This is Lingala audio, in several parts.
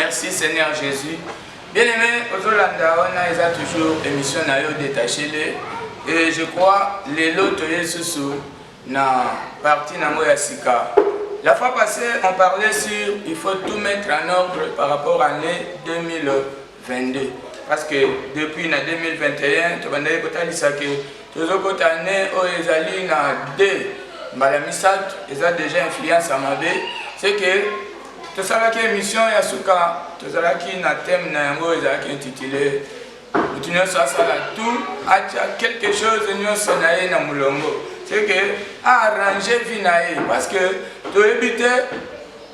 Merci Seigneur Jésus. Bien aimé, ozolanda wana eza toujours émission na yo détaché le et je crois lelo toye susu na partie nango ya sika. La fois passée, on parlait sur il faut tout mettre en ordre par rapport à l'année 2022 parce que depuis na 2021 tobandaki kotalisa ke tozokota année oyo ezali na 2 mbala misato eza déjà influence ya mabe c'est que Tosalaki emission ya suka tozalaki na thème na yango ezalaki intitulé moto nyonso asala tout atya quelque chose nyonso na ye na molongo c'est que arrange vie na ye parce que toyebi te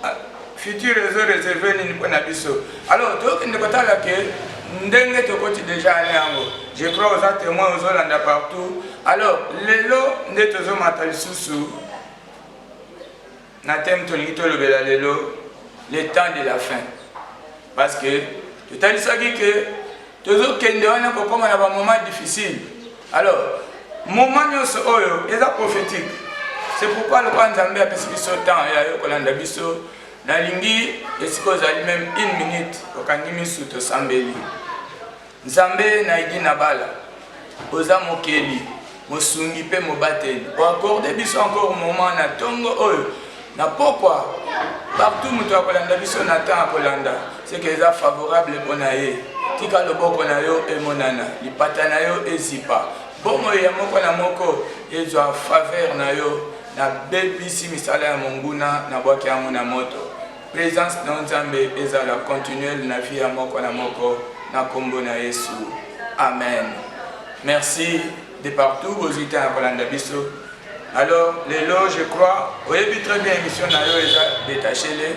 ah, futur ezo réserve nini mpo na biso alors tokende kotala ke ndenge tokoti déjà ane yango je crois oza témoin ozolanda partout alors lelo nde tozomata lisusu Na thème tolingi tolobela lelo le temps de la fin parce que totalisaki que tozokende wana kokoma na bamoment difficile alors moment nyonso oyo eza prophétique c'est pourquoi lokola nzambe apesi biso temps ya yo kolanda biso nalingi esika ozali meme une minute okangi misu tosambeli Nzambe na Edi Nabala, oza mokeli, mosungi pe mobateli. O accorde biso encore moment na tongo oyo na pokwa partout moto akolanda biso na temps akolanda ce que eza favorable pona ye. Tika loboko na yo emonana, lipata na yo ezipa, bomoi ya moko na moko ezwa faveur na yo. Na bebisi misala ya monguna, na bwaki yango na moto. Presence na nzambe ezala continuel na vie ya moko na moko na kombo na yesu amen merci de partout bozui temps ya kolanda biso alors lelo je crois oyebi très bien émission na yo eza detache le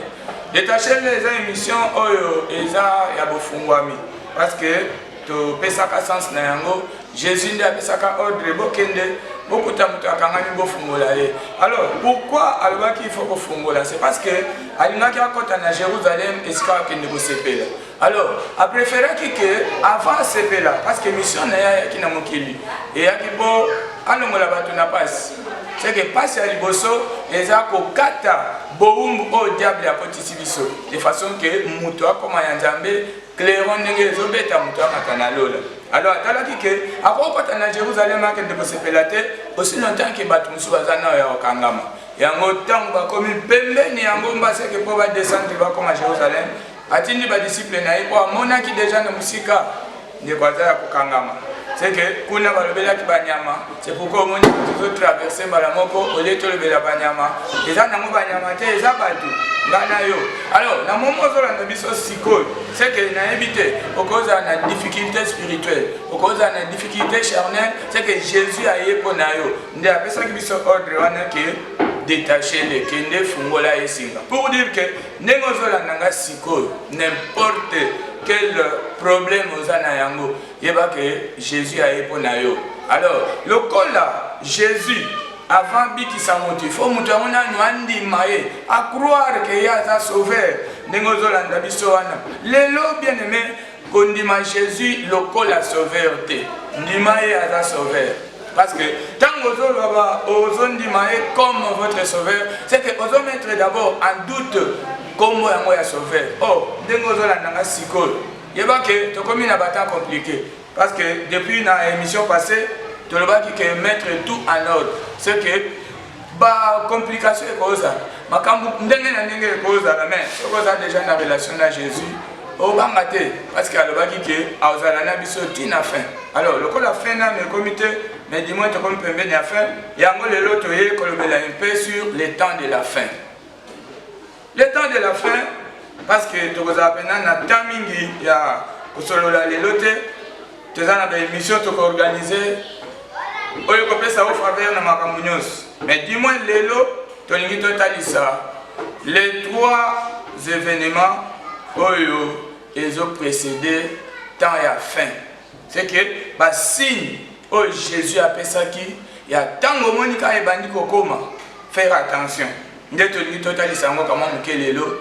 detache le eza émission oyo eza ya bofungwami parce que topesaka sens na yango Jesus nde apesaka ordre bokende bokuta moto akangami bofungola ye alors pourquoi alobaki il faut kofungola c'est parce que alingaki akɔta na jérusalem esika akende kosepela alors apréféraki ke avant asepela parce que mission na ye ayaki na mokili eyaki mpo alongola bato na mpasi seke mpasi ya liboso eza kokata bowumbu oyo oh, diable akotisi biso de façon ke moto akoma ya nzambe clairon ndenge ezobeta moto amata na lola Alors atalaki ke akokota na Jerusalem akende kosepela te aussi longtemps ke bato mosusu baza nao ya kokangama. Yango ntango bakomi pembeni ya ngomba seke mpo badescendre bakoma Jerusalem, atindi badisiple na ye mpo amonaki deja na mosika ndeko aza ya kokangama seke kuna balobelaki banyama c'est pourquoi omoni tozo traverse mbala moko olie tolobela banyama eza nango banyama te eza bato nga na yo alors na momo ozolanda biso sikoyo seke nayebi te okozala na difficulté spirituelle okozala na difficulté charnel seke jésus aye mpo na yo nde apesaki biso ordre wana ke détache le kende fungola ye singa pour dire ke ndenge ozolanda nga sikoyo n'importe quel problème oza na yango yeba ke jesus aye mpo na yo alors lokola jesus avant abikisa moto ifo moto yango nanu andima ye acroire ke ye aza sauveur ndenge ozolanda biso wana lelo bien aime kondima jésus lokola sauveur te ndima ye aza sauveur parce que ntango ozoloba ozondima ye comme votre sauveur c'est que ozomettre d'abord en doute nkombo yango ya sauveur o oh, ndenge ozolanda nga sikoyo Yeba que tokomi na ba temps complique parce que depuis na emission passée tolobaki que mettre tout en ordre c'est que ba complication ekozala makambo ndenge na ndenge ekozala mais soki oza déjà na relation na Jésus obanga te parce que alobaki ke azala na biso ti na fin alors lokola fin nano ekomi te mais du moins tokomi pembeni ya fin yango lelo toye kolobela un peu sur le temps de la fin Le temps de la fin parce que tokozala mpena na temps mingi ya kosolola lelo te toza na baémission tokoorganize oyo ekopesa o faveur na makambo nyonso mais du moins lelo tolingi totalisa les trois événements oyo ezo précéder temps ya fin c'est que basigne Oyo Jesus apesaki ya tango omoni ka ebandi kokoma faire attention nde tolingi totalisa yango kamwa moke lelo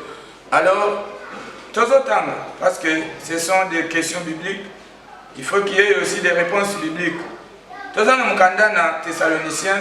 alors tozotanga parce que ce sont des questions bibliques il faut qu'il y ait aussi des réponses bibliques toza na mokanda na thessaloniciens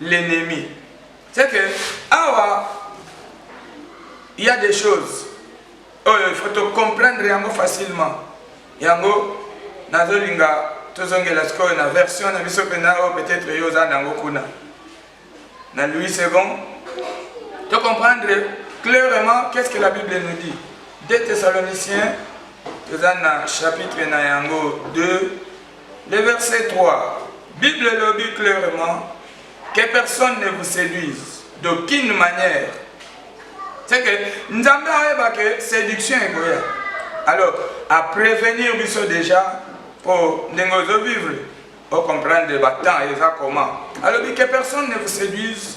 l'ennemi c'est que awa il y a des choses oyo oh, il faut to comprendre yango facilement yango nazolinga tozongela sikoyo na version na biso mpenza oyo oh, peut-être yo oza nango kuna na louis second to comprendre clairement qu'est-ce que la bible nous dit 2 thessaloniciens toza na chapitre na yango 2 Le verset 3, Bible elobi clairement que personne ne vous seduise d'aucune manière. C'est que Nzambe ayeba que séduction ekoya. Alors, à prévenir biso déjà pour ndenge ozo vivre, au comprendre ba temps eza comment. Alobi que personne ne vous séduise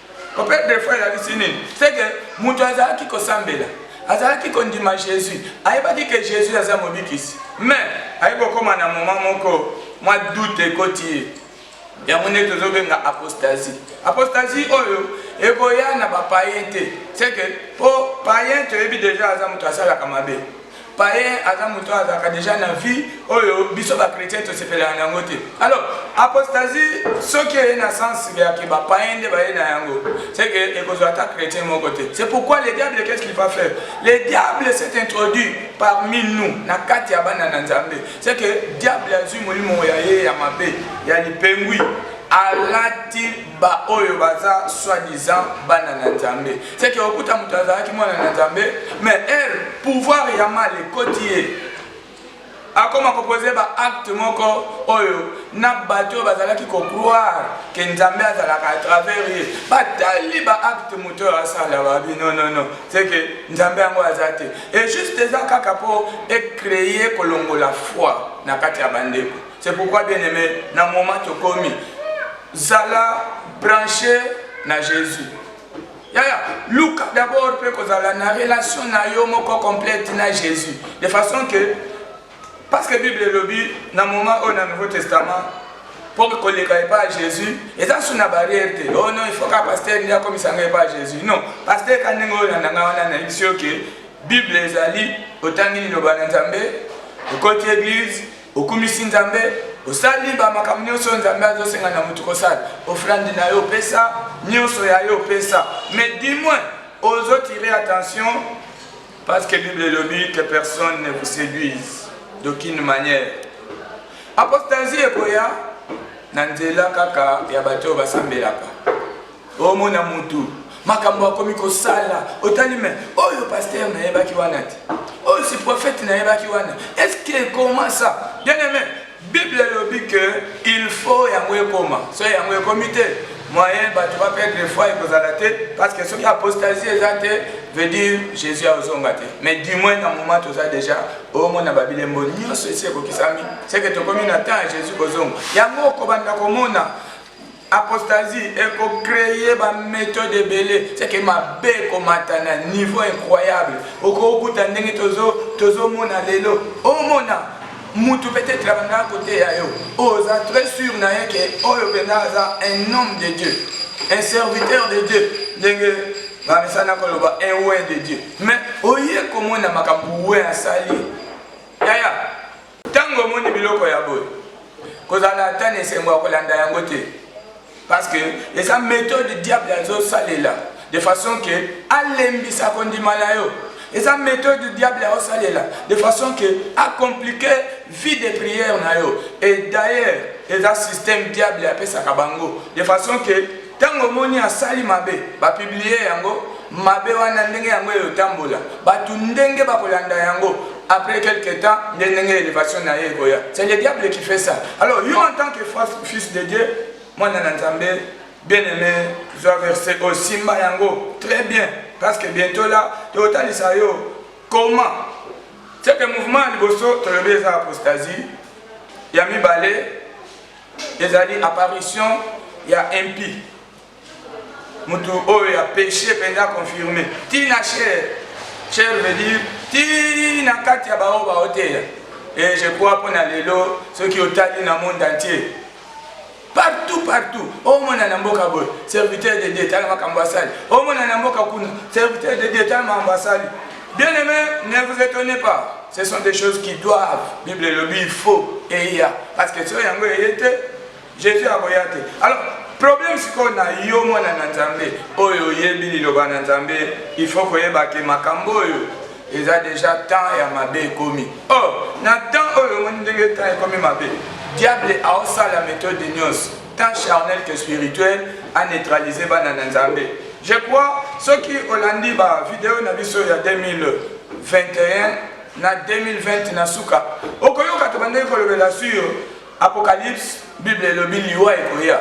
Ope defo elakisi nini? Seke moto azalaki kosambela, azalaki kondima Jesus, ayebaki ke Jesus aza mobikisi, mais aye kokoma na moma moko mwa doute ekoti ye, yango nde tozobenga apostasie. Apostasie oyo ekoya na ba payen te, seke po payen toyebi deja aza moto asalaka mabe. paye aza moto oyo azalaka deja na vie oyo biso bachrétien tosepelaka na yango te alors apostasie soki eye na sens yake bapaye nde baye na yango seke ekozwa ata chrétien moko te c'est pourquoi le diable qu'est-ce qu'il va faire le diable s'est introduit parmi nous na kati ya bana na nzambe seke diable azwi molimo ya ye ya mabe ya lipengwi alati ba oyo baza soit disant bana na nzambe seke okuta moto azalaki mwana na nzambe mais ere pouvoir ya mal ekoti ye akoma kopose baacte moko oyo na bato oyo bazalaki kocroire ke nzambe azalaka à travers ye batali baacte moto oyo asala babi nonono seke nzambe yango aza te e juste eza kaka mpo ecreye kolongola foi na kati ya bandeko C'est pourquoi bien aimé, na moment tokomi, zala branché na Jésus. Yaya, luka d'abord mpe kozala na relation na yo moko complète na Jésus. De façon que, parce que Bible elobi na moment oyo na Nouveau Testament, mpo koleka epai ya jésus eza su na barrière te oh non ifaut ka paster nde akomisa ngai epai ya jésus non paster ka ndenge oyo landa ngai wana nayebisi yo ke bible ezali otangi liloba na nzambe okoti église Okumisi Nzambe, osali ba makambo nionso oyo Nzambe azo senga na mutu ko sala. Offrande na yo opesa, nionso ya yo opesa. Mais du moins ozo tirer attention parce que Bible elobi que personne ne vous seduise d'aucune manière. Apostasie ekoya na nzela kaka ya bato oyo basambelaka. omona mutu makambo akomi kosala otali me oyo paster nayebaki wana te oyo si prophète nayebaki wana est ce que comment ça bien aimé bible elobi que il faut yango ekoma so yango ekomi te moyen bato baperdre foi ekozala te parce que soki apostasie eza te veut dire jésus akozonga te mais du moins na moment toza déjà omona babilembo nyonso esi ekokisami seke tokomi na temps ya jésus kozonga yango okobanda komona Apostasie eko cree ba methode ebele seke mabe ekomata na niveau incroyable okokuta ndenge tozomona tozo lelo omona mutu peut-être abandaka koteya yo oza très sûr na ye ke oyo mpenza aza un homme de dieu un serviteur de dieu ndenge bamesana koloba un oin de dieu mais oye komona makambo oin asali yaya Ntango omoni biloko ya boye, kozala ata na esengo ya kolanda yango te, parce que eza methode diable azosalela de façon que alembisa kondima na yo. eza méthode diable aosalela de façon que acomplike vie de prière na yo et d'ailleurs eza système diable apesaka bango de façon que Tango omoni asali mabe ba publie yango mabe wana ndenge yango eyo tambola batu ndenge ba kolanda yango après quelque temps nde ndenge elevation na ye ekoya c'est le diable qui fait ça alors yo en tant que fils de Dieu mwana na Nzambe bien aimé zwa verset oyo simba yango très bien parce que bientôt là totalisa yo comment c'est que mouvement ya liboso tolobi eza apostasie ya mibale Ezali apparition ya impi mutu oyo ya peche penza confirme tina cher cher veut dire tina kati ya baoyo baoteya et je crois mpo na lelo soki otali na monde entier partout partout omona na mboka boye serviteur de dieu tala makambo asali omona na mboka kuna serviteur de dieu tala makambo asali Bien aimé, ne vous étonnez pas. Ce sont des choses qui doivent. Bible elobi il faut eya parce que soki yango eye te Jésus akoya te. Alors problème sikoyo na yo mwana na Nzambe oyo oyebi liloba na Nzambe, il faut koyeba ke makambo oyo eza déjà temps ya mabe ekomi. Oh, na temps oyo omoni ndenge temps ekomi mabe. Diable aosala méthode nyonso tant charnel que spirituel a neutraliser bana na nzambe je crois soki olandi ba video na biso ya 2021 na 2020 na suka okoyoka tobandaki kolobela sur apocalypse bible elobi liwa ekoya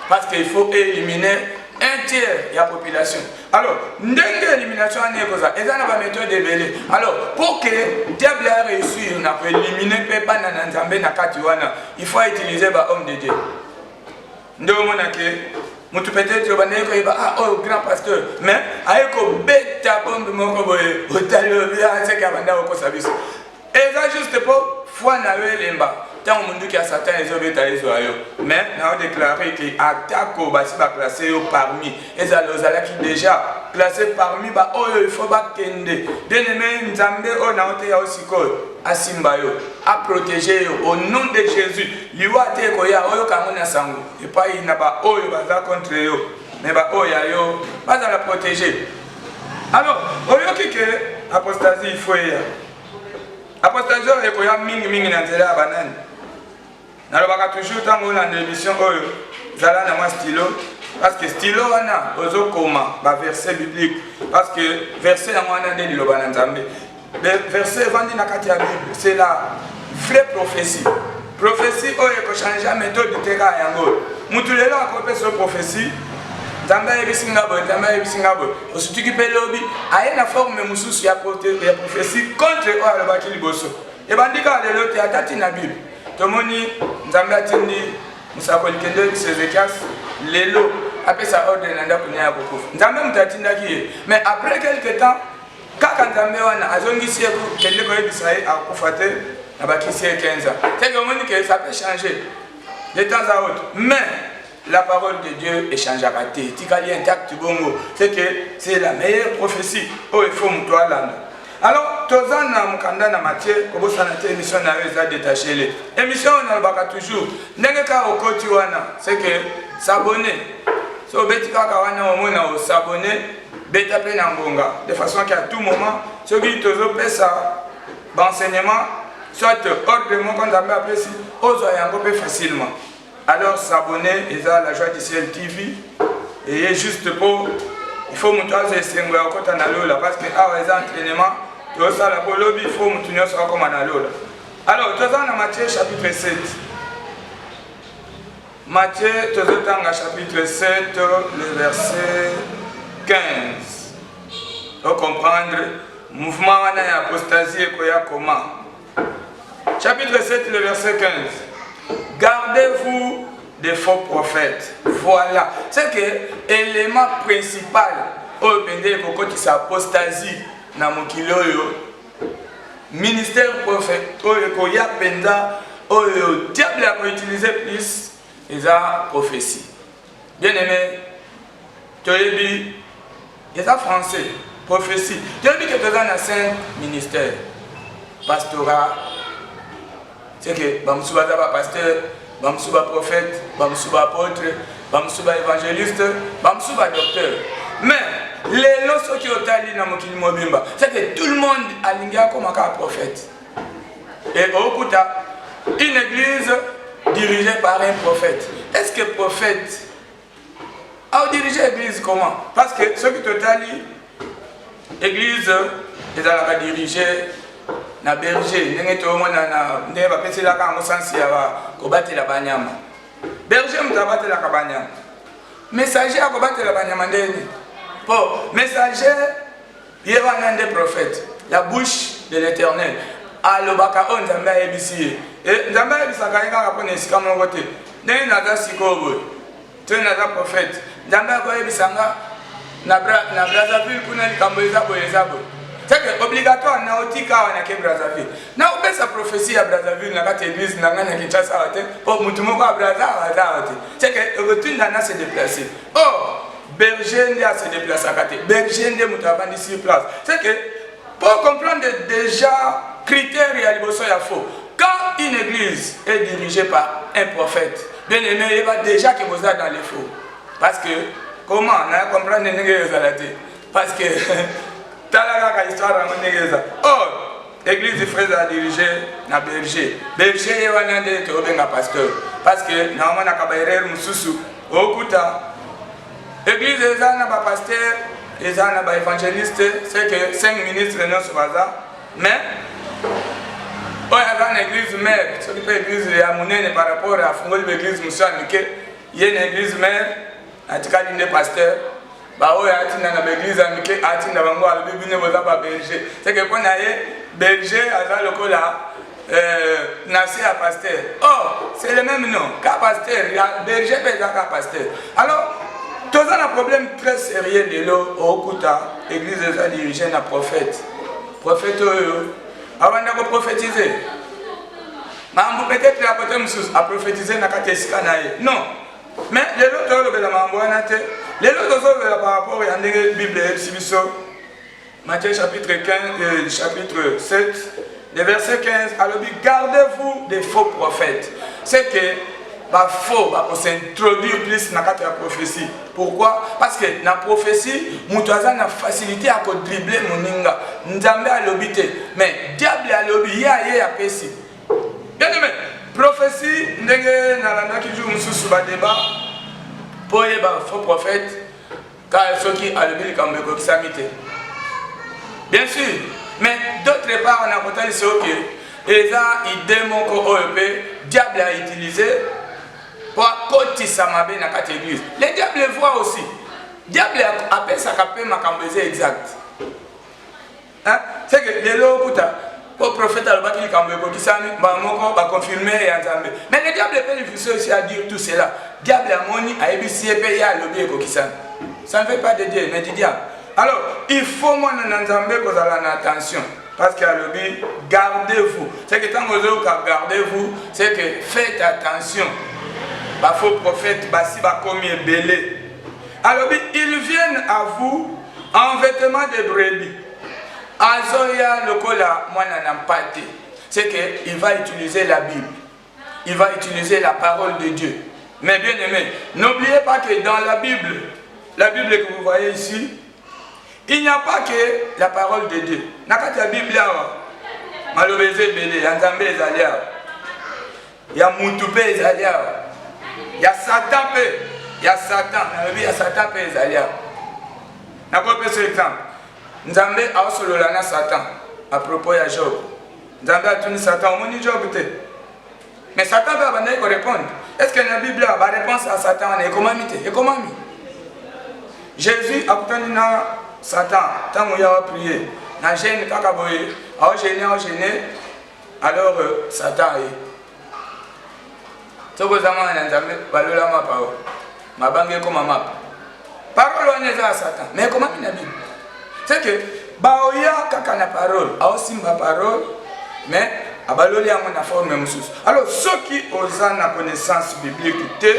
parce que il faut éliminer un tiers ya population Alors, ndenge élimination wana ekozala eza na baméthode ebele alors pour que diable a réussir na koélimine mpe bana na nzambe na kati wana il faut utiliser bahomme de dieu nde omona ke motu peut-être obandaki koyeba ah oyo oh, grand pasteur mais aye kobeta bombe moko boye otali obi aseke abanda kokosa biso Eza juste po foi na yo elemba ntango monduki ya satan ezobeta ezwa yo mais nao deklare ke atako basi baklasse yo parmi ezala ozalaki deja klasse parmi baoyo ifo bakende bien aime nzambe oyo nao te yao sikoyo asimba yo aprotege yo au nom de jésus liwa te ekoya oyoka yango na sango epai na baoyo baza contre yo me baoyo ya yo bazala protege alors oyoki ke apostasie ifo eya apostasion ekoya mingi mingi na nzela ya banani nalobaka toujours ntango olanda émission oyo zala na mwa stylo parce que stylo wana ozokoma baverset biblique parce que verset yango wana nde liloba na nzambe verset evandi na kati ya bible c'est la vraie prophétie Prophetie oyo ekochangea methode teka yango oyo motu lelo akopesa yo prophetie nzambe ayebisi nga boye nzambe ayebisi nga boye osutuki mpe lobi aye na forme mosusu ya prophetie contre oyo alobaki liboso ebandi kaka lelo te ata ntina bible tomoni nzambe atindi mosakoli kende oyebisa ezekias lelo apesa ordre na ndako nia ya kokufa nzambe moto atindaki ye mais après quelque temps Kaka nzambe wana azongisi ye ku kende koyebisa ye akufa te na bakisi ye 15 ans seke omoni ke ça peut changer de temps à autre mais la parole de Dieu echangeaka te etikali intact bongo c'est que c'est la meilleure prophétie oyo efo moto alanda alors toza na mokanda na matie kobosana te émission na yo eza détaché le émission oyo nalobaka toujours ndenge kaka okoti wana c'est que s'abonne so obeti kaka wana omona osabone beta pe na ngonga de façon que à tout moment soki tozo pesa ba enseignement soit ordre moko nzambe apesi ozwa yango pe facilement alors s'abonner eza la joie du ciel tv eye juste po il faut moto azwa esengo ya kokota na lola parce que awa eza entraînement tozosala po lobi il faut moto nyonso akoma na lola alors toza na matthieu chapitre 7 Matthieu tozotanga chapitre 7 le verset 15 ocomprendre mouvement wana ya apostasie ekoya koma chapitre 7 le verset 15 gardez-vous des faux prophètes voilà c'est que élément principal oyo mpenza ekokotisa apostasie na mokili oyo ministère prophète oyo ekoya mpenza oyo diable akoutilize plus eza prophétie bien aimé toyebi eza français prophétie toyebi ke toza na saint ministère pastorat ce que ba musu baza ba pasteur ba musu ba prophète ba musu ba apôtre ba musu ba évangéliste ba musu ba docteur mais lelo soki otali na mokili mobimba ce que tout le monde alingi akoma kaka prophète et okuta une église dirigée par un prophète est ce que prophète au dirige église comment parce que ce qui totali église ezalaka dirige na berger ndenge toyomona na ndenge bapeselaka yango sansi ya kobatela banyama berger moto abatelaka banyama messager akobatela banyama ndeni mpo messager Ye wana nde prophète, la bouche de l'Eternel. Alobaka oyo Nzambe ayebisi ye. E, Nzambe ayebisaka ye kaka mpo na esika moko te. Ndenge naza sikoyo boye, to naza prophète, Nzambe akoyebisa nga na, bra, na Brazzaville kuna likambo eza boye eza boye. Seke obligatoire na otika awa nake Brazzaville. Na opesa prophetie ya Brazzaville na kati église na ngai na Kinshasa awa te, mpo motu moko ya Brazza aza awa te. Seke ekotinda na se déplacer. Oh, Berger nde a se déplacaka te. Berger nde moto avandi sur place. C'est que pour comprendre déjà critère ya liboso ya faux. Quand une église est dirigée par un prophète, bien aimé, il va déjà que vous êtes dans les faux. Parce que comment na comprendre ndenge ezala te. Parce que tala kaka histoire yango ndenge eza. Oh Eglise Fraise a dirige na berger. Berger ye wana nde tobenga pasteur. Parce que na wana ka ba erreur mususu okuta Eglise eza na ba pasteur, eza na ba evangeliste, c'est que 5 ministres nyonso baza mais oyo aza na eglise mère soki mpe eglise ya monene par rapport afungoli ba eglise mosusu ya mike ye na eglise mère atikali nde pasteur baoyo atinda na baeglize ya mike atinda bango alobi bino boza ba belge seke mpo na ye belge aza lokola euh, na se ya pasteur or c'est le même nom ka pasteur ya belge mpe eza ka pasteur alors toza na problème très sérieux lelo okuta église eza dirige na prophète prophète oyo abanda koprophétise mambo peut-être ya kote mosusu aprophétise na kati ya esika na ye non Mais lelo tolobela makambo wana te. Lelo tozolobela par rapport ya ndenge Bible eyebisi biso Matthieu chapitre 15 euh, chapitre 7 le verset 15 alobi gardez-vous des faux prophètes. C'est que ba faux ba ko s'introduire plus na kati ya prophétie. Pourquoi? Parce que na prophétie moto aza na facilité ya ko dribbler moninga. Nzambe alobi te, mais diable alobi ye aye apesi. Bien aimé, prophetie ndenge nalandaki jour mosusu ba debat mpo oyeba faux prophète ka soki alobi likambo ekokisami te bien sûr mais d'autre part nakotalisa yo ke eza idée moko oyo mpe diable a utilise mpo akotisa mabe na kati église le diable voit aussi diable apesaka mpe makambo eza exact Hein? C'est que lelo kuta po prophète alobaki likambo ekokisami mbala moko baconfirme ya nzambe mais le diable epe lifuso esi a dire tout cela diable amoni ayebisi ye mpe ye alobi ekokisami ça ne fait pas de dieu mais du diable alors il faut mwana na nzambe kozala na attention parce que alobi gardez-vous c'est que ntango ozoyoka gardez-vous c'est que faites attention bafaux prophète basi bakomi ebele alobi ils viennent à vous en vêtement de brebis azoya lokola mwana na mpate c'est que il va utiliser la bible il va utiliser la parole de dieu mais bien aimé n'oubliez pas que dans la bible la bible que vous voyez ici il n'y a pas que la parole de dieu na kati ya bible awa maloba eza ebele ya nzambe ezali awa ya mutu mpe ezali awa ya satan mpe ya satan nalobi ya satan mpe ezali awa nakopesa exemple nzambe aosolola na satan a propos ya job nzambe atuni satan omoni job te mais satan mpe abandaki korepondre est ce que na bible awa bareponse ya satan wana ekomami te ekomami jésus akutani na satan ntango ya wa priye na gene kaka boye aogene aogene Alors euh, Satan ye soki oza mwana na Nzambe balola mapa o mabange ekoma mapa parole wana eza ya Satan mais ekomaki na Bible c'est que baoya kaka na parole aosimba parole mais abaloli yango na forme mosusu alors soki oza na connaissance biblique te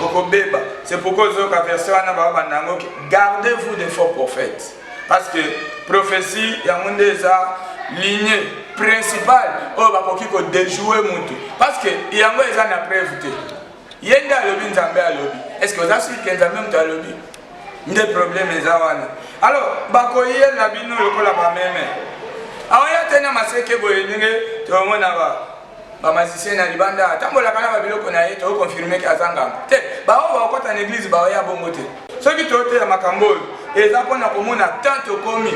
okobeba c'est pourquoi ozoyoka verset wana baobanda yango garde vous des faux prophètes Parce que prophetie yango nde eza ligne principale oyo bakoki ko déjouer mutu parce que yango eza na preuve te. Ye nde alobi Nzambe alobi. Est-ce que oza sûr que Nzambe mutu alobi? Nde problème eza wana. Alors bakoyela bino lokola bameme. Aoya te na maseke boye ndenge tomona ba ba magicien na libanda atambolaka na babiloko na ye toconfirme ke aza nganga te baoyo baokota na eglize baoya bongo te soki toyoteya makambo oyo eza mpo na komona temps tokomi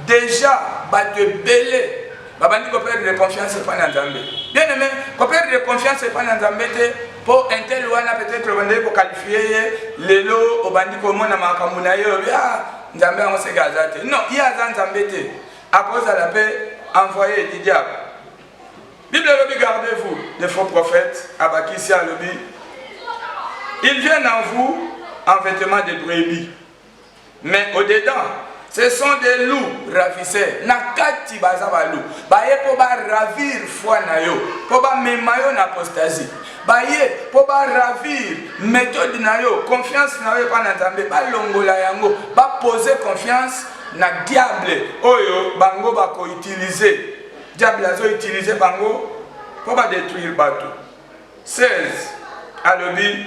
deja bato ebele babandi koperdre confiance epai na nzambe bien aime koperdre confiance epai na nzambe te mpo intel wana peut-être obandaki kokalifie ye lelo obandi komona makambo na ye obi a ah, nzambe yango seke aza te non ye aza nzambe te Akozala pe envoye du diable. Bible elobi gardez vous des faux prophètes, abakisi alobi ils viennent en vous en vetement de brebis mais au dedans ce sont des loups ravisseurs na kati baza balou baye mpo baravir foi na yo mpo bamema yo na apostasie baye mpo baravir méthode na yo confiance na yo epai na nzambe balongola yango bapose confiance na diable oyo bango bako utilize diable azo utilize bango mpo ba detruire bato 16 alobi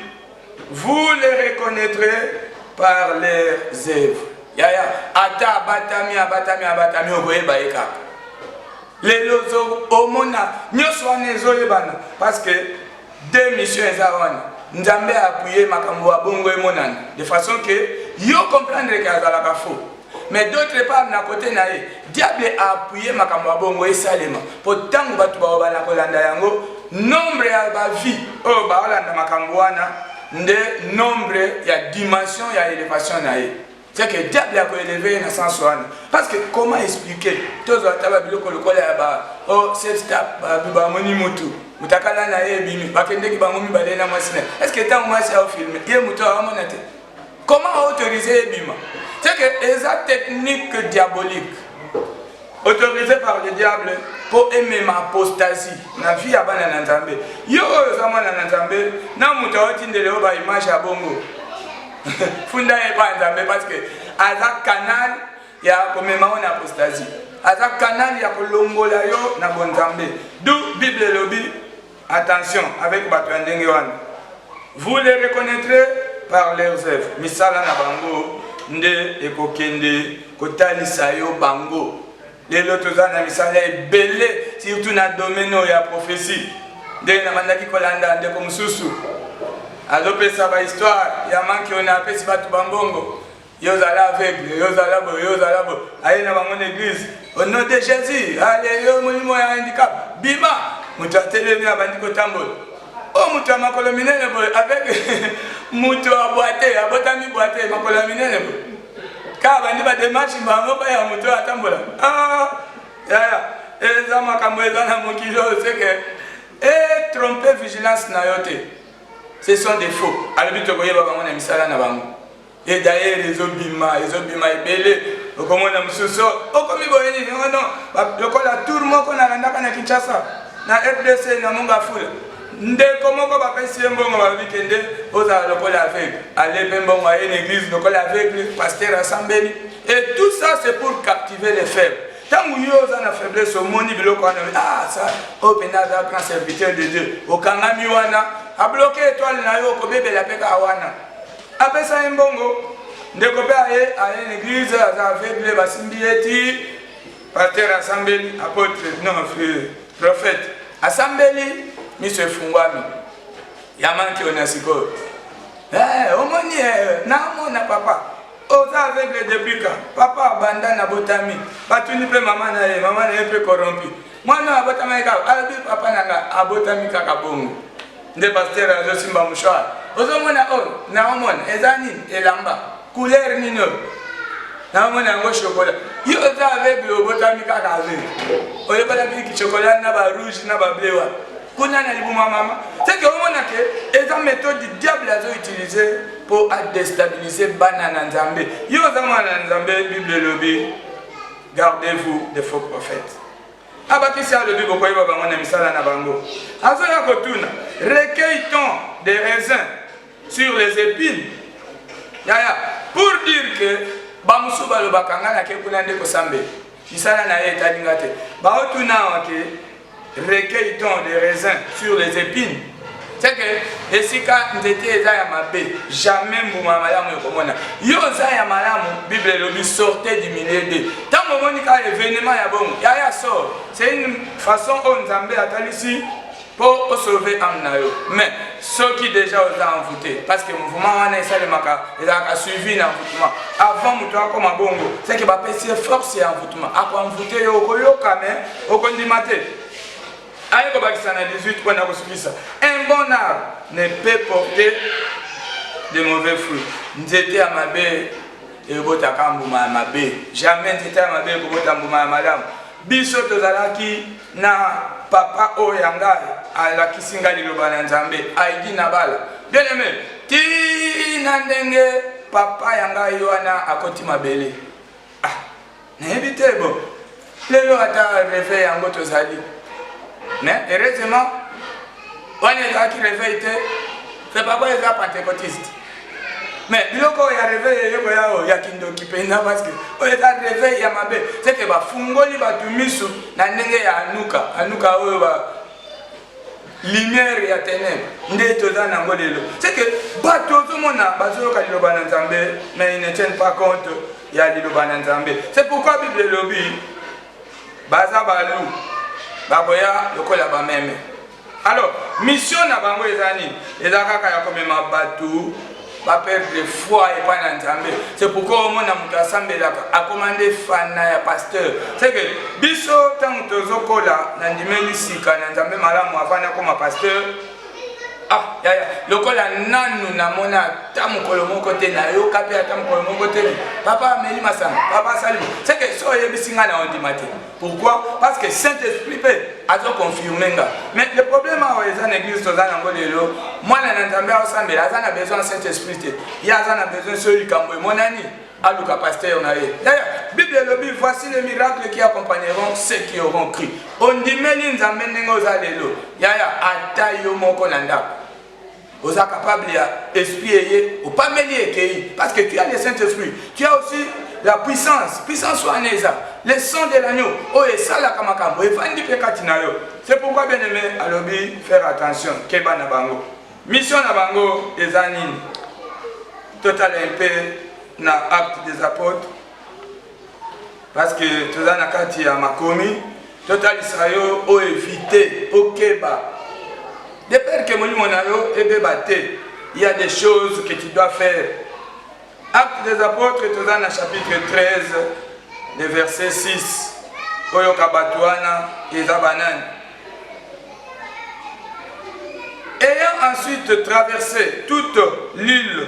vous les reconnaîtrez par leurs œuvres yaya ata abatami abatami abatami okoyeba ye kaka lelo omona nyonso wana ezoyebana parce que Deux missions eza wana. Nzambe a appuyer makambo ya bongo emonana de façon que yo comprendre que azalaka faux. Mais d'autre part na côté na ye, diable a appuyer makambo ya bongo esalema. Po tango bato bao bana kolanda yango, nombre ya ba vie oyo baolanda makambo wana nde nombre ya dimension ya elevation na ye. C'est que diable a élevé na sens wana parce que comment expliquer tozwa ata ba biloko lokola ya ba oh safe step ba ba moni mutu mutakala na ye bimi bakendeki bango mibale na mwasi na est ce que ntango mwasi ao filme ye mutu aamona te comment autoriser ye bima c'est que eza technique diabolique autorisé par le diable mpo emema apostasie na vie ya bana na nzambe yo oyo oza mwana na nzambe na moto aotindele yo baimage ya bongo funda ye epai ya nzambe parce que aza canal ya komema yo na apostasie aza canal ya kolongola yo na bonzambe du bible elobi Attention avec batu ya ndenge wana vous les reconnaitrez par leurs œuvres misala na bango nde ekokende kotalisa yo bango lelo toza na misala ebele surtout na domaine oyo ya prophetie ndenge nabandaki kolanda ndeko mosusu azopesa bahistoire ya manki oyo na apesi bato bambongo Yo zala aveugle, yo zala boye, yo zala boye. Aye na bango na eglise. Au nom de Jésus, allez yo molimo ya handicap, bima. Moto atelemi abandi kotambola. Oh moto ya makolo minene boye avec moto ya boite, abotami boite, makolo ya minene boye. Kaka bandi ba démarche bango ba ya moto atambola. Ah, yaya, eza makambo eza na mokili oyo seke. Eh, tromper vigilance na yo te. Ce sont des faux. Alobi tokoyeba bango na misala na bango. e dayere ezobima ezobima ebele okomona mosusu okomi boye nini oh ono lokola tour moko nalandaka na kinshasa na rdc na mongafula ndeko moko bapesi ye mbongo balobi kende ozala lokola aveugle ale mpe mbongo aye na église lokola aveugle paster asambeli et tout ça c'est pour captiver les faibles ntango yo oza na faiblesse omoni biloko wana ah ça oyo mpenza aza grand serviteur de dieu okangami wana abloke etoile na yo okobebela mpe kaka wana Apesa ye mbongo ndeko pe aye aye na eglise aza aveugle basimbi ye ti pasteur asambeli apotre non prophète asambeli miso efungwami ya manki oyo na sikoyo eh, omoni eh, namona papa oza aveugle depuis ka papa abanda na botami batuni mpe mama na ye mama na ye mpe corrompi mwana oyo abotamaki kaka alobi papa na nga abotami kaka bongo nde pasteur azo simba mouchoir ozo mona oyo oh, na omona eza nini elamba couleur nini oyo na omona yango chocolat yo oza aveugle obotami kaka aveugle oyebanaki ki chocolat na ba rouge na ba bleu wana kuna na libuma mama seke omona ke eza méthode du diable azo utilise mpo adestabilise bana na nzambe yo oza mwana na nzambe bible elobi gardez vous de faux prophètes abakisi alobi bokoyeba bango na misala na bango azoya kotuna recueille ton des raisins sur les épines yaya pour dire que bamosusu balobaka ngai nake kuna nde kosambela misala na ye etali ngai te baotuna wake recueille ton des raisins sur les épines c'est que esika nzete eza ya mabe jamais mbuma ya malamu ekomona yo oza ya malamu bible elobi sorte du milieu de ntango omoni kaka evenema ya bongo yaya sor c'est une façon oyo nzambe atalisi mpo osolove ame na yo mais soki deja oza envoute parce que mouvement wana esalemaka ezalaka suivi na envoutement avant moto akoma bongo seke bapesi ye force ya envoutement akoenvoute yo okoyoka mais okondima te aye kobakisa na 18 mpo na kosukisa un bon arbre ne peut porter de mauvais fruits nzete ya mabe ebotaka mbuma ya mabe jamais nzete ya mabe ekobota mbuma ya malamu biso tozalaki na papa oyo ya ngai alakisi ngai liloba na nzambe aidi na bala bien aime tina ndenge papa ya ngai wana akoti mabele Ah, nayebi te bo. Lelo ata reveil yango tozali. Mais heureusement, wana ezalaki reveil te, c'est papa eza pentecotiste. Mais biloko ya reveil eyoko yao ya kindoki mpenza parce que oyo eza reveil ya mabe. C'est que bafungoli bato miso na ndenge ya anuka. Anuka oyo ba lumière ya tenebre nde toza nango lelo c'est que bato ozomona bazoyoka liloba na nzambe mais ils ne tiennent pas compte ya liloba na nzambe c'est pourquoi bible elobi baza balu bakoya lokola bameme alors mission na bango eza nini eza kaka ya komema bato ba perdre foi epai na nzambe c'est pourquoi omona moto asambelaka akoma nde fana ya pasteur c'est que biso ntango tozokola na ndimeli sika na nzambe malamu avanda akoma pasteur ah yaya lokola nanu namona ata mokolo moko te nayoka mpe ata mokolo moko te papa ameli masanga papa asali c'est que so oyebisi ngai na ondima te Pourquoi? Parce que Saint-Esprit pe azo confirmer nga. Mais le problème awa eza na église toza nango lelo, mwana na Nzambe aosambela aza na besoin ya Saint-Esprit te. Ye aza na besoin soki likambo emonani aluka pasteur na ye. D'ailleurs, Bible elobi voici les miracles qui accompagneront ceux qui auront cru. Ondimeli Nzambe ndenge oza lelo. Yaya ata yo moko na ndako. oza capable ya esprit eye opameli ekeyi parce que tu as le saint esprit tu as aussi la puissance puissance wana eza le sang de l'agneau oyo oh, esalaka makambo efandi mpe kati na yo c'est pourquoi bien aimé alobi faire attention keba na bango mission na bango eza nini totala mpe na acte des apôtres Parce que toza na kati ya makomi totalisa yo o evite okeba de peur que molimo na yo ebeba te il y a des choses que tu dois faire acte des apôtres toza na chapitre 13 le verset 6 oyoka bato wana eza banani ayant ensuite traversé toute l'île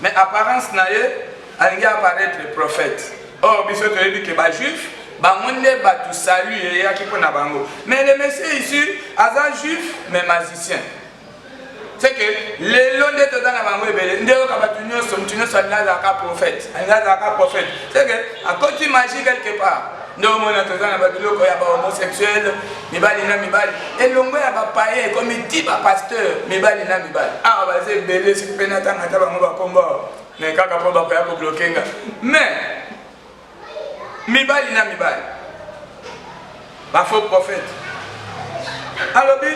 Mais apparence na ye alingi apparaître prophète. Or biso toyebi que ba juifs bango nde batu salut eyaki mpo na bango. Mais le monsieur ici aza juif mais magicien. C'est que lelo nde toza na bango ebele nde yoka batu nyonso mutu nyonso alingi azalaka prophète alingi azalaka prophète c'est que akoti magie quelque part nde omona toza na babiloko ya bahomosexuel mibali na mibali elongo ya bapaye ekomi ti bapasteur mibali na mibali awa baza ebele soki mpe natanga ata bango bakombo me kaka mpo bakoya kobloke nga me mibali na mibali bafaux prophète alobi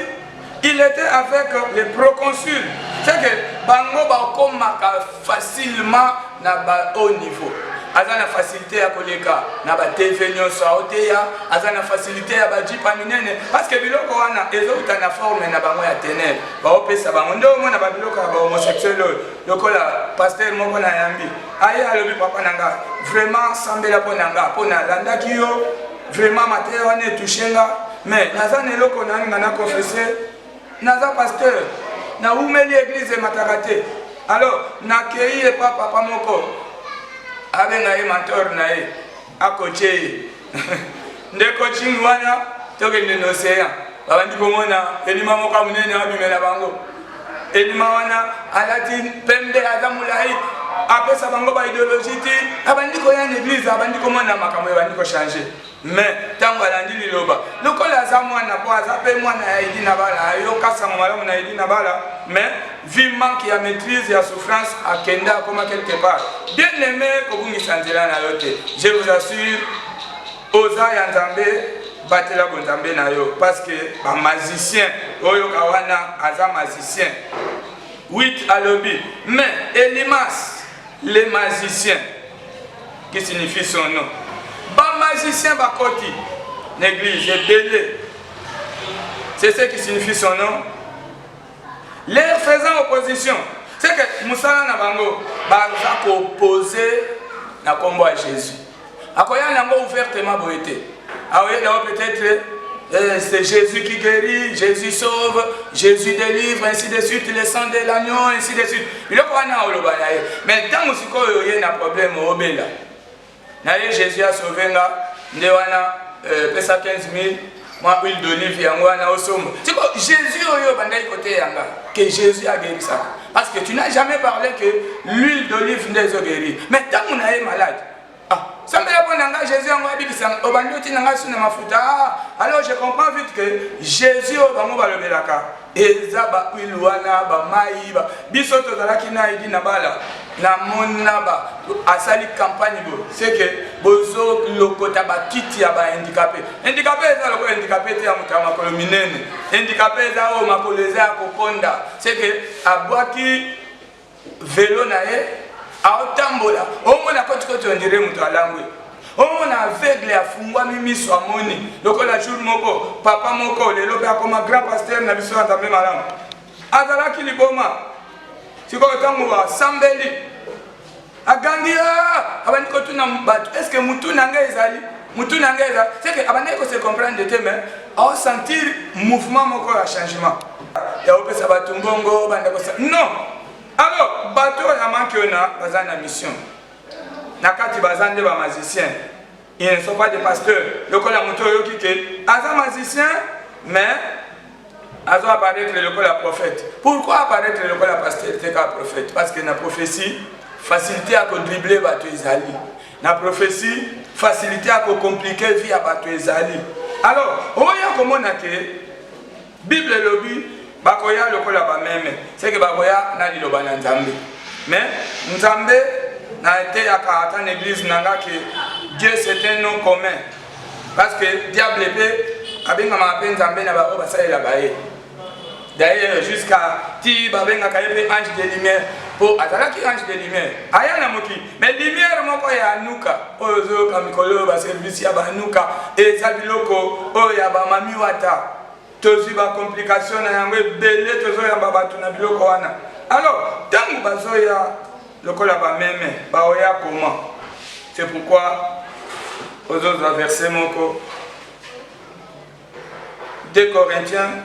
Il était avec les proconsuls. C'est que bango bakomaka facilement na ba haut niveau. aza na facilité ya koleka na ba tv nyonso aoteya aza na facilité ya bajipa minene parceke biloko wana ezouta na forme na bango ya tenere baopesa bango nde omona babiloko ya bahomosexuel oyo lokola paster moko na yambi aye alobi papa na nga vraiment sambela mpo na nga mpo nalandaki yo Vraiment mateya wana etouche nga mais naza na eloko nani nga na confesse naza pasteur nawumeli eglize emataka te alors nakei epa papa moko abenga ye mentor na ye akoce ye nde coaching wana tokende na océan babandi komona elima moko ya monene abimela bango Elima wana alati pembe aza mulayi apesa bango ba ideologie ti abandi koya na eglise abandi komona makambo ebandi kochange mais ntango alandi liloba lokola aza mwana mpo aza mpe mwana ya edi na bala ayoka sango malamu na edi na bala mais vi manque ya maîtrise ya souffrance akenda akoma quelque part bien aimé kobungisa nzela na yo te je vous assure oza ya nzambe batela bonzambe na yo parce que ba magicien oyoka wana aza magicien wit alobi mais elimas le magicien qui signifie son nom ba magicien bakoti na église ebele c'est ce qui signifie son nom leur faisant opposition c'est que mosala na bango baza koposer na nkombo ya jésus akoya na yango ouvertement boye te aoye na yango peut-être eh, c'est Jésus qui guérit, Jésus sauve, Jésus délivre, ainsi de suite, le sang de l'agneau, ainsi de suite. biloko wana oloba na ye mais ntango sikoyo oye na problème obela na ye jésus asauve nga nde wana euh, pesa 15 000 mwa huile d'olive yango wana osomba siko jésus oyo obandaki koteya nga ke jésus agerisaka parce que tu n'as jamais parlé que l'huile d'olive nde ezogerir mais ntango na ye malade ah, sambela mpo na ngai jésus yango abikisa obandi otina ngai su na mafuta ah, alors je comprends vite que jésus oyo bango balobelaka Eza ba huile wana ba mayi ba biso tozalaki na edi na bala na mona ba asali campagne bo seke bozo lokota ba kiti ya ba handicapé handicapé eza lokola handicapé te ya moto ya makolo minene handicapé eza oyo makolo eza ya kokonda seke abwaki velo na ye aotambola omona kotikoti ondire moto alangwe omona aveugle afungwami miso amoni lokola jour moko papa moko lelo mpe akoma grand pasteur na biso ya nzambe malamu azalaki liboma sikoyo ntango asambeli Agangi ah, abandi kotuna bato eske mutu na ngai ezali mutu na ngai ezali seke abandaki kose comprendre te mais aosentir mouvement moko ya changement ya kopesa bato mbongo banda kosa non alors bato oyo na manke oyo na baza na mission na kati baza nde bamazicien Ils ne sont pas des pasteurs. Lokola moto oyoki ke aza magicien mais azo apparaître lokola prophète. Pourquoi apparaître lokola pasteur te ka prophète? Parce que na prophétie facilité ya ko dribbler bato ezali. Na prophétie facilité ya ko compliquer vie ya bato ezali. Alors, oya komona ke Bible elobi bakoya lokola bameme seke bakoya na liloba na nzambe me nzambe na eteyaka ata na eglise na nga ke dieu c'est un nom commun parce que diable mpe abengamaka mpe nzambe na baoyo basalelaka ye d'ailleurs jusqu'à ti babengaka ye mpe ange de lumière mpo azalaki ange de lumière aya na mokili Mais lumière moko ya anuka oyo ozoyoka mikolo oyo ba service ya ba anuka eza biloko oyo ya ba mami wata tozwi ba complication na yango ebele tozoyamba bato na biloko wana alors ntango bazoya lokola bameme baoya comment c'est pourquoi ozozwa verse moko 2 corinthiens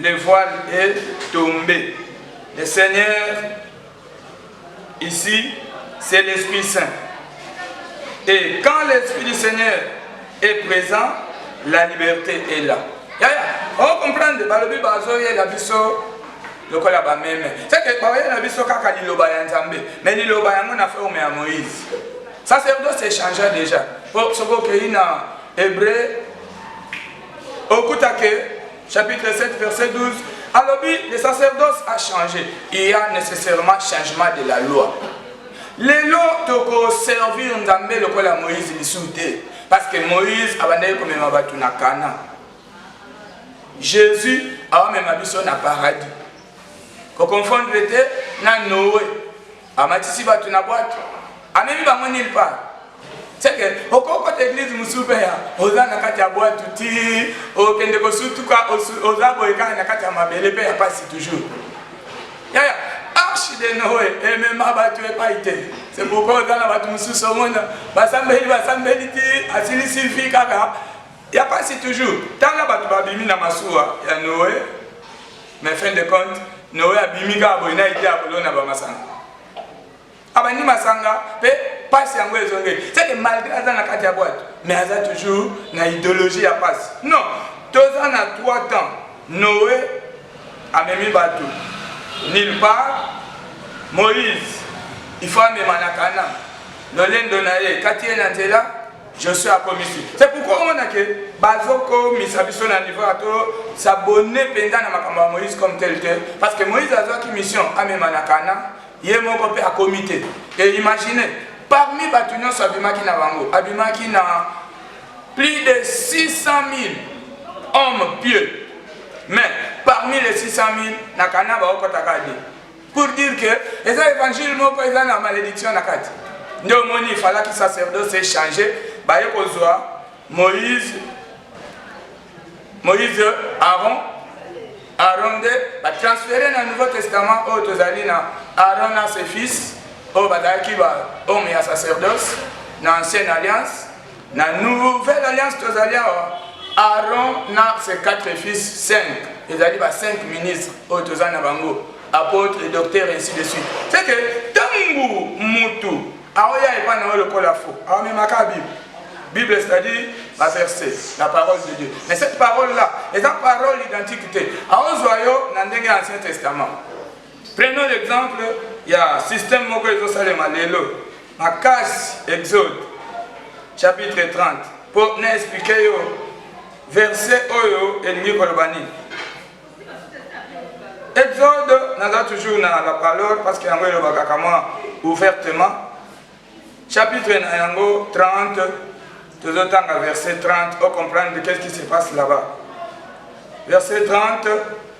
Le voile est tombe. Le Seigneur, ici, c'est l'Esprit Saint. Et quand l'Esprit du Seigneur est présent, la liberté est là. Ya, ya. Oh, comprendre, balobi bazoye la biso lokola bameme seke baoye na biso kaka liloba ya nzambe me liloba yango na forme ya moïse sacerdoce echangea déjà po soki okei na hébreu okuta ke chapitre 7 verset 12 alobi le sacerdoce a changé il y a nécessairement changement de la loi lelo tokoservir nzambe lokola moïse lisusu te parce que moïse abandaki komema bato na kana jésus aomema biso na paradis koconfondre te na noe Amatisi bato na bwato, amemi bango nil pa seke okokota eglize mosusu mpe ya oza na kati ya bwato ti okende kosutuka oza boye kaka na kati ya mabele mpe ya mpasi toujours yaya arche de noe emema bato epai te se pourkoi oza na bato mosusu omona basambeli basambeli ti asilisi vi kaka ya mpasi toujours tala bato babimi na masuwa ya noe mais fin de compte noe abimi kaka boye na ide ya kolona bamasanga abandi masanga mpe pasi yango ezongeli seke malgré aza na kati ya bwate mais aza toujours na idéologie ya pasi non toza na 3 temps noe amemi bato nil part moïse ifo amema na kana lolendo na ye kati ye na nzela Je suis à commission. C'est pourquoi on a que Bazoko, Misabiso, na niveau à tout, s'abonner pendant na makambo Moïse comme tel tel. Parce que Moïse a une mission à Memanakana, il est mon copé à comité. Et imaginez, parmi Batunion, sur Abimaki na Bango, Abimaki na plus de 600 000 hommes pieux. Mais parmi les 600 000, na Kana, Baoko Takadi. pour dire que eza évangile moko eza na malédiction na kati nde omoni ifalaki sacerdoce echange baye kozwa moïse moïse aaron aaron nde batransfere na nouveau testament oyo tozali na aaron na ses fils oyo bazalaki bahomme ya sacerdoce na ancienne alliance Na nouvelle alliance tozali awa Aaron na ses quatre fils 5 ezali ba 5 ministres oyo toza na bango apôtre docteur ainsi de suite c'est que tangu mutu aoya epa na yo lokola fo aomemaka bible Bible, c'est-à-dire la verset, la parole de Dieu. Mais cette parole-là, est une parole identique. Aozwa yo na ndenge ya Ancien Testament. Prenons l'exemple ya système moko ezosalema lelo makasi Exode chapitre 30 mpo na explike yo verset oyo elingi koloba nini. Exode naza toujours na la parole parce que yango elobaka kama ouvertement chapitre na yango 30 tozotanga verset 30 o comprendre qu'est-ce qui se passe là-bas verset 30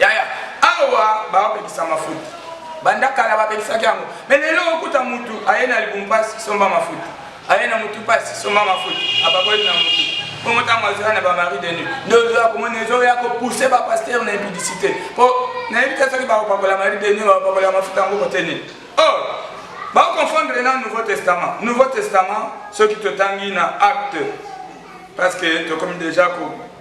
yaya awa babebisa mafuta banda kala babebisaki yango me lelo okuta mutu aye na libu mpasi somba mafuta aye na mutu mpasi somba mafuta abakoli na mutu bongo ntango azala na bamari de nuit nde ozoya komona ezoya kopousse bapaster na impudicité mpo nayebi te soki bakopakola mari de nuit bakopakola mafuta yango kote nini or oh! baoconfondre na nouveau testament nouveau testament soki totangi na acte parce que tokomi déjà ko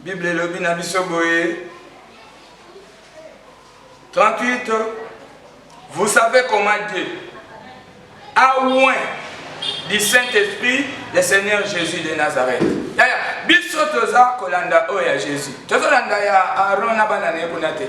Bible elobi na biso boye 38 vous savez comment Dieu a oint du Saint-Esprit le Seigneur Jésus de Nazareth. Yaya, biso toza kolanda oyo ya Jésus. Tozolanda ya Aaron na bana na ye kuna te.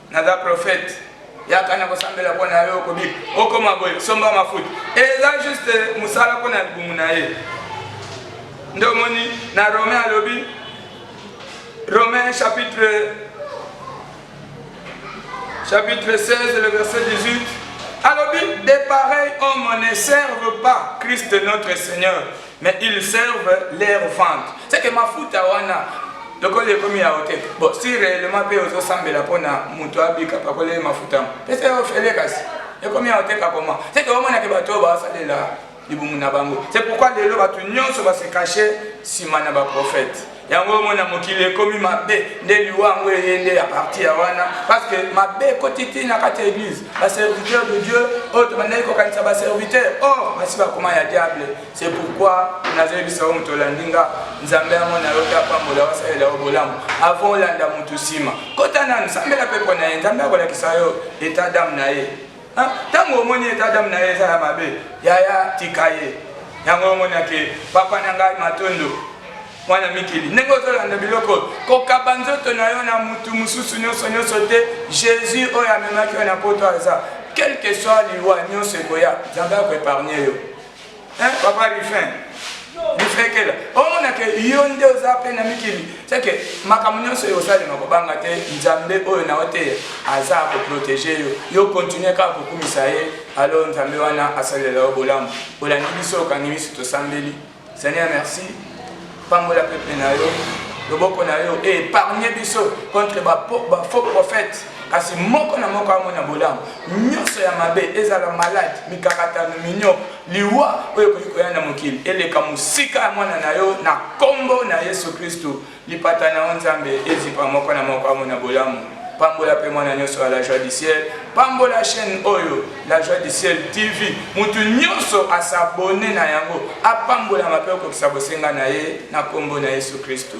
naza prophète yaka na kosambela mpo na yo okobi okoma boye somba mafuta eza juste mosala mpo na libumu na ye nde omoni na romain alobi romain chapitre chapitre 16 le verset 18 alobi de pareil homme ne serve pas christ notre seigneur Mais ils servent leur vente. C'est que mafuta wana lokola ekomi ya hotel bon si réellement mpe ozosambela mpona moto abika pakolele mafuta yango pesa yo ofele kasi ekomi ya hotel kakoma seke omonake bato oyo basalela libumu na bango c'est pourquoi lelo bato nyonso base cache nsima na baprofete yango omona mokili ekomi mabe nde liwa yango eye nde ya parti ya wana parce que mabe ekoti ti na kati ya église baserviteur de dieu oyo tobandaki kokanisa baserviteur or oh, basi bakoma ya diable c'est pourquoi nazoyebisa yo moto olandi nga nzambe yango na yo tapambola wasalela yo bolamu avant olanda motu nsima kota nanu sambela mpepo na ye nzambe akolakisa yo etat dame na ye Ah, tango omoni eta dame na ye eza ya mabe yaya tika ye yango omonake papa na ngai matondo mwana mikili ndenge ozolanda biloko kokaba nzoto na yo na motu mosusu nyonso nyonso te jésus oyo amemaki yo na poto aza quelque soit liwa nyonso ekoya nzambe akoepargne yo Hein, papa Rifin bifekela omona ke yo nde oza mpe na mikili seke makambo nyonso oyo osalema kobanga te nzambe oyo na oteya aza koprotege yo yo kontinue kaka kokumisa ye alo nzambe wana asalela yo bolamu olandi biso okangi miso tosambeli seigneur merci Pambola peuple na yo. Loboko na yo et épargner biso contre ba faux prophètes. kasi moko na moko amona bolamu nyonso ya mabe ezala malade mikakatano minyo liwa oyo ekoki koya na mokili eleka mosika ya mwana na yo na nkombo na yesu kristu lipata na yo nzambe ezipa moko na moko amona bolamu pambola mpe mwana nyonso ya la joie du ciel pambola chaîne oyo La joie du ciel TV mutu nyonso a s'abonner na yango apambolama mpe okokisa bosenga na ye na nkombo na Yesu Kristu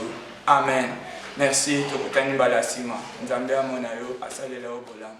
amen. Merci tokutani mbala ya nsima Nzambe amona yo asalela yo bolamu.